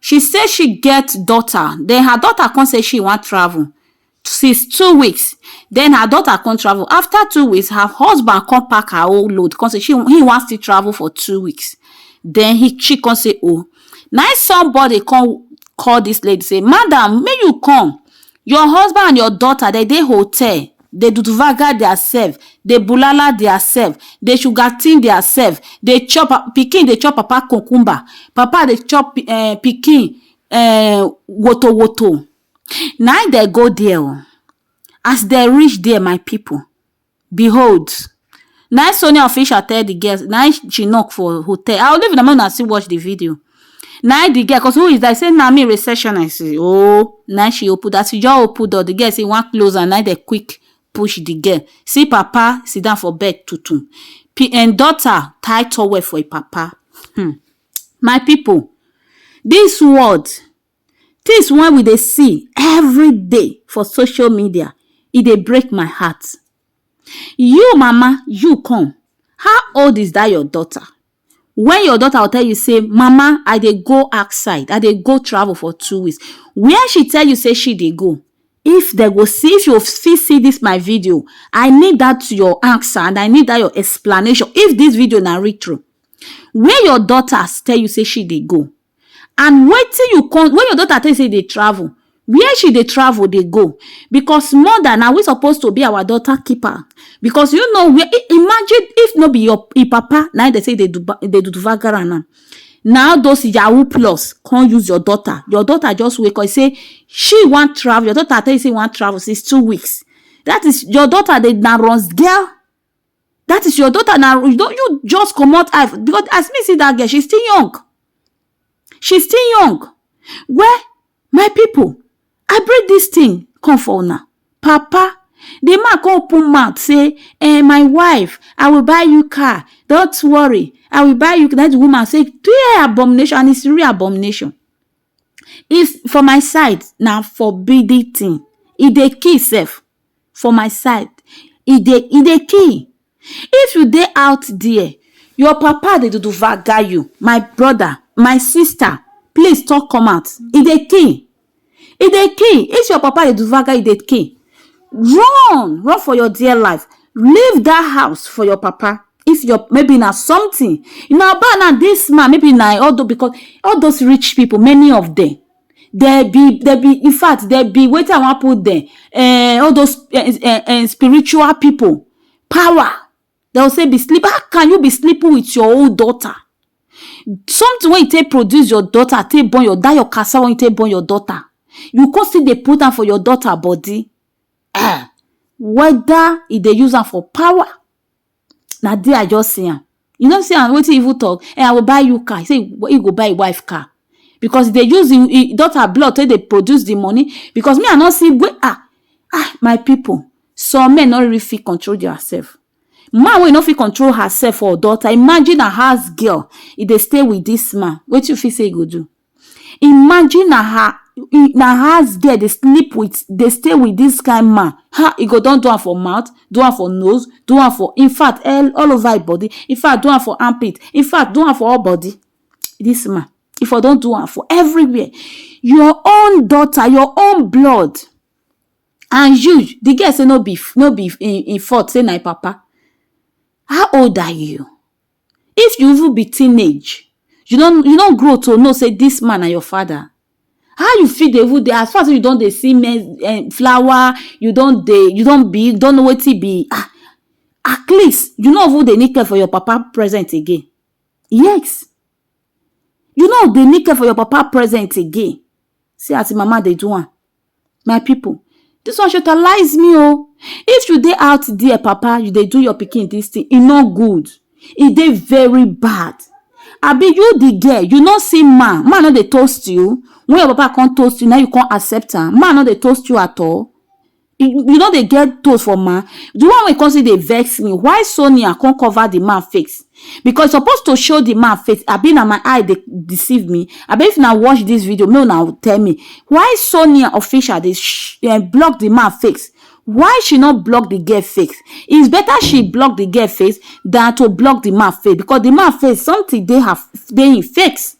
She say she get daughter, then her daughter come say she wan travel since two weeks, then her daughter come travel. After two weeks, her husband come pack her whole load, come say she he wan still travel for two weeks. Then he she come say oh, na somebody come call this lady say, madam, make you come Your husband and your daughter dem dey hotel dey dudvaga their self dey bulala their self dey sugartin their self dey chop pikin dey chop papa cucumber papa dey chop pikin um wotowoto na im dem go there oo as dem reach there my people Behold, na im Sonia official tell the girls, na im she knock for hotel. I will leave una make una still watch the video. Na im the girl, cause who is that? He say, na me receptionist. Oh, na im she open. As she just open door, the girl say, one close and na they quick push the girl. See papa sit down for bed tutum. P and daughter tie towel for a papa. Hmm. My people, this world, Tins wey we dey see everyday for social media, e dey break my heart. You mama, you come, how old is dat your daughter? Wen your daughter go tell you sey mama I dey go outside, I dey go travel for two weeks, where she tell you sey she dey go, if den go see, if you fit see dis my video, I need dat your answer and I need dat your explanation, if dis video na read trough, where your daughters tell you sey she dey go, and wetin you come when your daughter tell you say you dey travel where she dey travel dey go because mother na we suppose to be our daughter keeper because you know where imagine if no be your im papa na im dey say dey do dey do vagara now na all those yahoo plus come use your daughter your daughter just wake up say she wan travel your daughter tell you say you wan travel since two weeks that is your daughter dey na runz girl that is your daughter na you don you just comot eye for- because as me see that girl she still young she still young well my people i bring this thing come for una papa the man come open mouth say eh my wife i will buy you car don't worry i will buy you that woman say clear abomination and it's real abomination is for my side na forbidden thing e dey kill sef for my side e dey e dey key if you dey out there your papa dey dudu vaga you my brother my sister please talk come out e dey key e dey key if your papa dey dudu vaga you e dey key run run for your dear life leave that house for your papa if your maybe na something na ba na this man maybe na all those because all those rich people many of them. There be there be in fact there be wetin I wan put there um all those um spiritual people power dem go say be sleep how can you be sleeping with your own daughter something wey you take produce your daughter take born your that your cassava wey you take born your daughter you come still dey put am for your daughter body um whether e dey use am for power na there I just see am. You no see am wetin e even talk? Eh, I will buy you car. He say he go buy him wife car because he dey use him, him daughter blood take dey produce the money because me I no see wey ah ah my people some men no really fit control their self. Man wey e no fit control herself or daughter imagine her house girl e dey stay with this man wetin you fit say e go do? Imagine na her na house girl dey sleep with dey stay with this kind man ha e go don do am for mouth do am for nose do am for infact all over him body infact do am for arm pit infact do am for all body this man e for don do am for everywhere your own daughter your own blood and you the girl say no be no be him fault say na him papa how old are you? If you even be teenage, you don you don grow to know sey dis man na your father, how you fit dey even dey as far as sey you don dey see men um flower, you don dey you don be you don know wetin be um at least you no even dey need care for your papa present again, yes you no dey need care for your papa present again, see as im mama dey do am. My pipu dis one shortalize me o, if you dey out there papa you dey do your pikin dis thing e no good, e dey very bad abi you de girl you no see man, man no dey toast you when your papa come toast you na im you come accept am, man no dey toast you at all, you no dey get toast for man, de one wey come still dey vex me why Sonia come cover de man face. because e suppose to show the man face abi na my eye dey deceive me abi if na watch this video make una tell me why Sonia official dey um block the man face why she no block the girl face it's better she block the girl face than to block the man face because the man face something dey her dey him face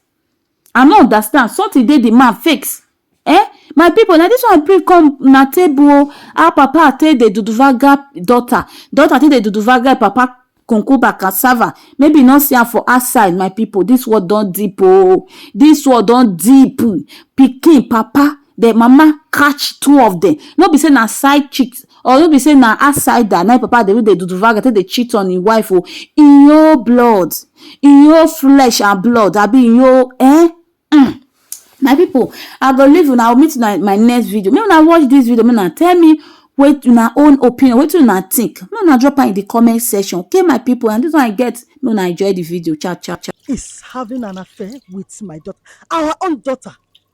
I no understand something dey the man fakes eh my people na this one bring come na table o how papa take dey duduvaga daughter daughter take dey duduvaga papa concuba cassava maybe you no see am for outside my people this one don deep o this one don deep pikin papa The mama catch two of them. No be say na side cheat or no be say na outsider na papa dey do the duduvaga take dey cheat on him wife o. In your blood, in your flesh and blood, abi in your eh? Mm. My people, I go leave una. I will meet una in my next video. Make una watch this video. Make una tell me wait una own opinion. Wait una think. Make una drop am in the comment section. Okay, my people. And this one I get. Make una enjoy the video. Ciao, ciao, ciao. is having an affair with my daughter, our own daughter.